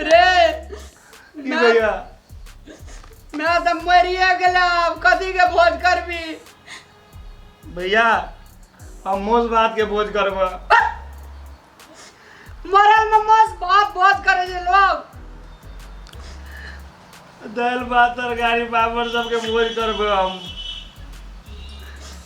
रे की भैया मैं तो मरिए गेला अब कथी के भोज करबी भैया हम मोस भात के भोज करब मरल में मौज भात भोज करे जे लोग दालि भात तरकारी पापड़ सबके भोज करब हम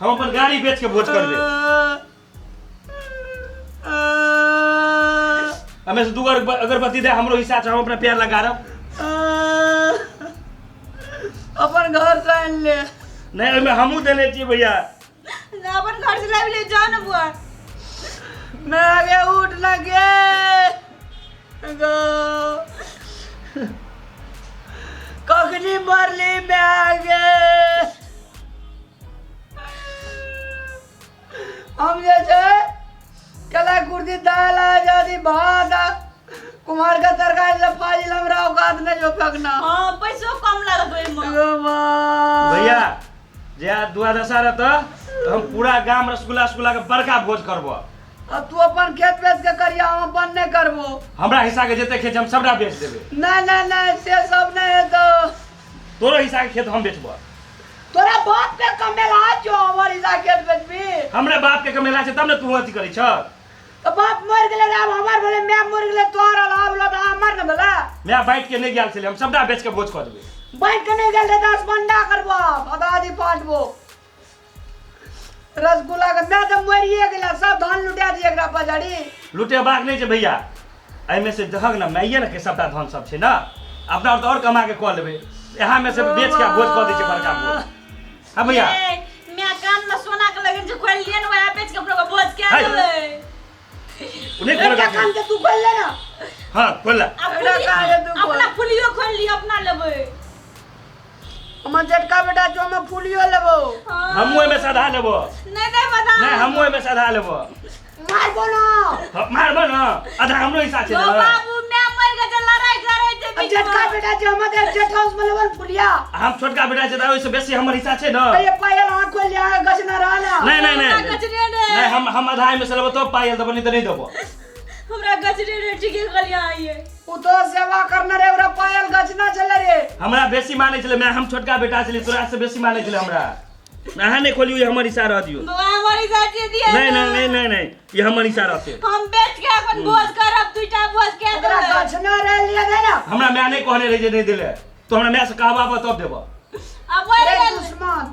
हम अपन गाड़ी बेच के भोज करबे हमें से दू गो अगर- अगरबत्ती दे हमरो हिस्सा छै हम अपना प्यार लगा रहा अपन घर से आन ले नहीं ओहिमे हमहूँ देने छियै भैया ना अपन घर से लाबि ले जाओ ना बुआ ना आगे उठ लगे कखनी मरली मायगे हम जे छै कला कुर्ती दाल आ जादी भात आ कुमार का तरकारी ले फाजिल हमरा औकात नहीं जो फेंकना हाँ पैसो कम लागत ओहि में एगो माँ। भैया जे आज दुआ दशा रहता तो हम पूरा गांव रसगुल्ला रसगुल्ला के बड़का भोज करबो आ तू अपन खेत बेच के करिया हम अपन नहीं करबो हमरा हिस्सा के जते खेत छै, हम सबटा बेच देबे नहीं नहीं नहीं से सब नहीं है तो तोरो हिस्सा के खेत हम बेचबो तोरा बाप के कमेला छो हमर हिस्सा खेत बेचबी हमरा बाप के कमेला छै तब ने तू अथी करै छ तो बाप मर गेले रे, आब हमर भेले मैं मर गेले तोहर आब आब लो तो हमर न भेले मैं बाइट के नहीं गेल छलै हम सबटा बेच के भोज कऽ देबे बैठ के नहीं गेले दस बंडा करबो आब आधा आधी पांचबो रसगुल्ला के मैं तो मरिए गेला सब धन लुटा दिए एकरा पजारी लुटेबाक नहि छै भैया एहिमे से दहक ने माइये ने के सबटा धन सब छै ने अपना और और कमा के कऽ लेबै यहाँ में से बेच के भोज कऽ दै छै बड़का भोज हाँ भैया ए, मैं कान में सोना के लगन जे खोल लिए ना वहां बेच के अपना बोझ के हाय। आले उन्हें खोल एकरा कान के के तू खोल ले ना हाँ खोल ला अपना काहे तू बोल? अपना फुलियो खोल लिए अपना लेबे हमर जेठका बेटा जो में फूलियो लेबो हमहूँ एहिमे सधा लेबो नहीं नहीं बता नहि हमहूँ एहिमे सधा लेबो मारबो ना हँ, मारबो ने आधा हमरो हिस्सा छै ओ ने बाबू मैं मर गए तो लड़ाई करे थे अब जेठका बेटा जो हम दे जेठ हाउस में लेबो फूलिया हम छोटका बेटा छै तऽ ओहिसँ बेसी हमर हिस्सा छै ने ये पायल आंख खोल लिया गजना रहला नहि नहि नहि कचरे ने नहि हम हम आधा एहिमे से लेबो तब पायल देबो नहि तऽ नहि देबो हमरा गजरे रे टिके गलिया आइए उ तो सेवा करना रे ओरा पायल गचना चले रे हमरा बेसी माने छले मैं हम छोटका बेटा छले तोरा से बेसी माने छले हमरा अहाँ नहीं खोलियो ये हमर इशारा दियो बाबा हमारी साथी दिए नहीं नहीं नहीं नहीं नहीं ये हमर इशारा से हम बैठ के अपन भोज करब दुटा भोज के ओकरा देबै। गचना रे लिए दे ना हमरा मैं नहीं कहने रहे जे नहीं दिले तो हमरा मैं से कहबा तब देबो अब वही रे गल- दुश्मन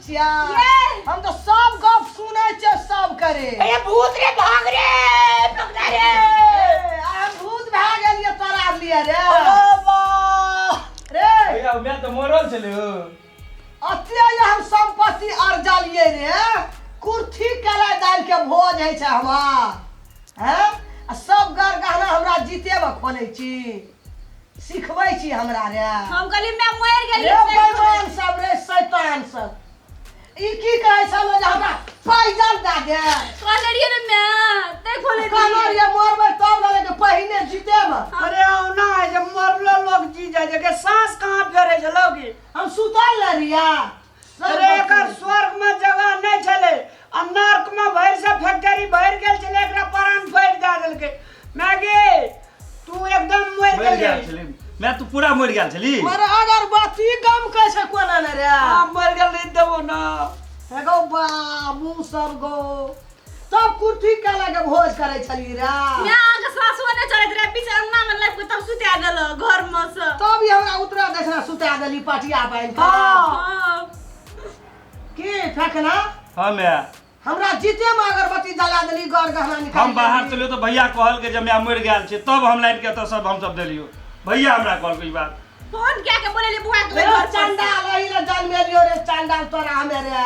हम तऽ सब गप सुनै छियै सब करे ए भूत रे भाग रे पकड़ा रे आइ हम भूत भए गेलियै तोरा लिए रे रे भैया उमे तऽ मरल छलै ओ अतिया ये हम संपत्ति अर्जलिए रे कुर्थी केला दाल के भोज है छै हमार हैं आ सब गर गहना हमरा जीते में खोले छी सिखबै छी हमरा रे हम कहली मैं मर गेली रे भगवान सब रे शैतान सब ई की कहै छल जे हमरा पैजल दए दे कहले रहिए ने मैं ते खोले कहलो रे मरबै तब ना लेकिन पहिने जीतेबै अरे औना है जे मरलो लोग जी जाए जे के सांस कहाँ फेरे छलो की हम सुतल न रिया अरे एकर स्वर्ग में जगह नहीं छले आ नर्क में भर से फैक्ट्री भर गेल छले एकरा प्राण पैर दे देलके मैगे तू एकदम मर मरि गेल गेल रही। छली मैं तू पूरा मरि गेल छली अरे अगर बात ई गम कै छै कोना ने रे हम मर गेल रही देबो ना एगो बाबू सब गो तब कुर्थी काला के भोज करै छली रे मैं अहाँ के सासुओ ने चलैत रहे पीछे अंगना में लाइफ के तब सुता देल घर में से तब ई हमरा उतरा देखना सुता देली पटिया बांध के हाँ। की फेकना हाँ मैं हमरा जीते में अगरबत्ती जला देली गौर गहना निकाल हम बाहर चलियो तो भैया कहल के जब मैं मर गया छे तब हम लाइन के तो सब हम सब देलियो भैया हमरा कहल के ई बात फोन क्या के बोले ले बुआ के घर पर से। चंडाल रही ले जन्मे लियो रे चंडाल तोरा हमे रे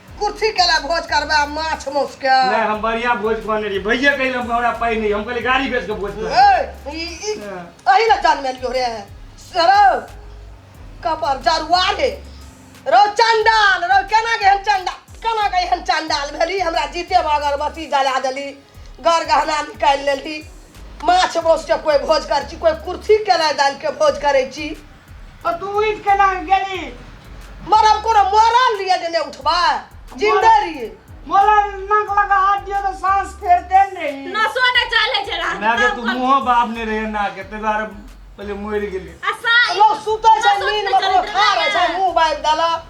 कुर्सी के लिए भोज करबे आ माछ मौस के नहीं हम बढ़िया भोज कहने रही भैया कहीं हम हमरा पाई नहीं हम कहले गाड़ी भेज के भोज कर ए, ई ई अही ला जान में लियो रे सरो कपर जरुआ रे रो चंडाल रो केना के हम चंडाल केना के हम चंडाल भेली हमरा जीते बगर बसी जला देली गर गहना निकालि लेली माछ मासुके कोइ भोज करै छी कोइ कुर्सी केना दालिके भोज करै छी और तू उठ के ना गेली मरब कोनो मरल लिए जे नहि उठबा जिंदे रहिए मोला नाक लगा हाथ दियो तो सांस फेरते न रही नसो न चले छै रात ना के तू मुंह बाप ने रहे ना के ते बार पहले मर गेली असा लोग सुतै छै नींद में कोनो खा रहै छै मुंह बाबि देलक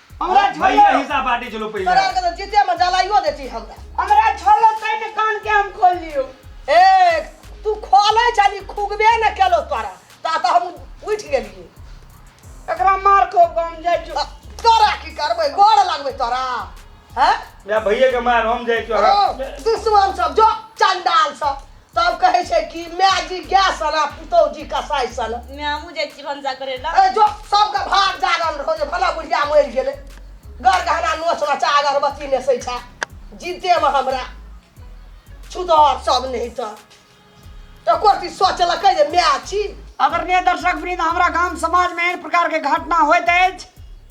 हमरा झोलो भैया हिस्सा बांटे चलो पहले तोरा आरके तऽ जीते मे जलाइयो दे छी हमरा हमरा झोलो कहि ने कान के हम खोल लियो ए तू खोलै छली खुगबे ने केलो तोरा ता तऽ हम उठि गेलियै एकरा मार को बम जाय जो आ, तोरा की करबै गोड़ लगबै तोरा हैं मैं भैया के मार हम जाए चो हाँ। दुश्मन सब जो चंडाल सब तब कहै छै कि माय जी गाय सन आ पुतौह जी कसाई सन माय हमहूँ जाइ छी भनसा करै लए ए जो सबके भाग जागल रहो जे भला बुढ़िया मरि गेलै गर गहना नोच नचा अगरबत्ती नेसै छै जीतेमे हमरा छुदर सब नहि तऽ एको रती सोचलकै जे माय छी आदरणीय दर्शक वृंद हमरा गाम समाजमे एहन प्रकारके घटना होइत अछि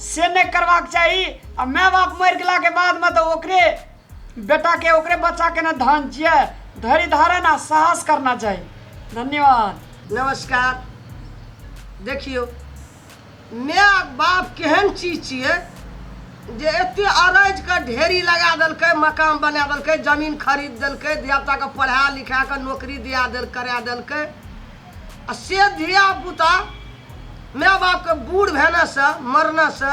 से नहि करबाक चाही आ माय बाप मरि गेलाके बादमे तऽ ओकरे बेटाके ओकरे बच्चाके ने धान छियै धैर्य धारण आ साहस करना चाही धन्यवाद नमस्कार देखियौ माय बाप केहन चीज छियै जे एते अरज के ढेरी लगा देलकै मकान बना देलकै जमीन खरीद देलकै धियापुताके पढ़ा लिखा कऽ नौकरी दिया देल करा देलकै आ से धियापुता माय बापके बूढ़ भेनासँ मरनासँ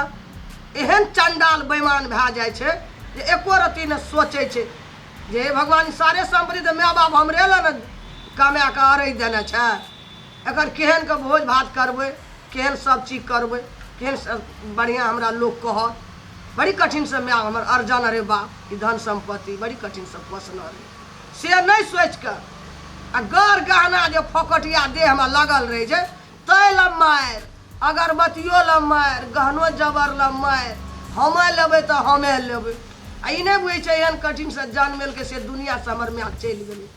एहन चंडाल बैमान भए जाइ छै जे एको रत्ती ने सोचै छै जे हे भगवान ई सारे सम्पत्ति तऽ माय बाप हमरे लए ने कमाए कऽ अरै देने छै एकर केहन के भोज भात करबै केहन सब चीज करबै केहन सब बढ़िआँ हमरा लोक कहत बड़ी कठिनसँ माय हमर अर्जन अरे बाप ई धन सम्पत्ति बड़ी कठिनसँ पोसने रहै से नहि सोचि कऽ आ गर गहना जे फोकटिया देहमे लगल रहै छै तै लए मारि अगरबत्तियो लए मारि गहनो जबर लए मारि हमे लेबै तऽ हमे लेबै आ ई नहि बुझै छै एहन कठिनसँ जन्मेलकै से दुनिआँसँ हमर माय चलि गेलै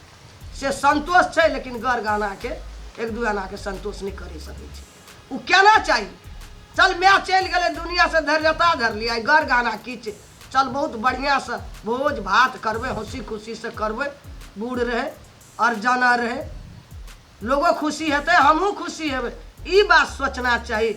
से संतोष छै लेकिन गर गहनाके एक दू आनाके संतोष नहि करि सकै छै ओ केना चाही चल माय चलि गेलै दुनिआँसँ धैर्यता धरली आइ गर गहना की छै चल बहुत बढ़िया से भोज भात करबे हंसी खुशी से करबे बूढ़ रहे अरजाना रहे लोगो खुशी हेतै हमहूँ खुशी हेबै ई बात सोचना चाही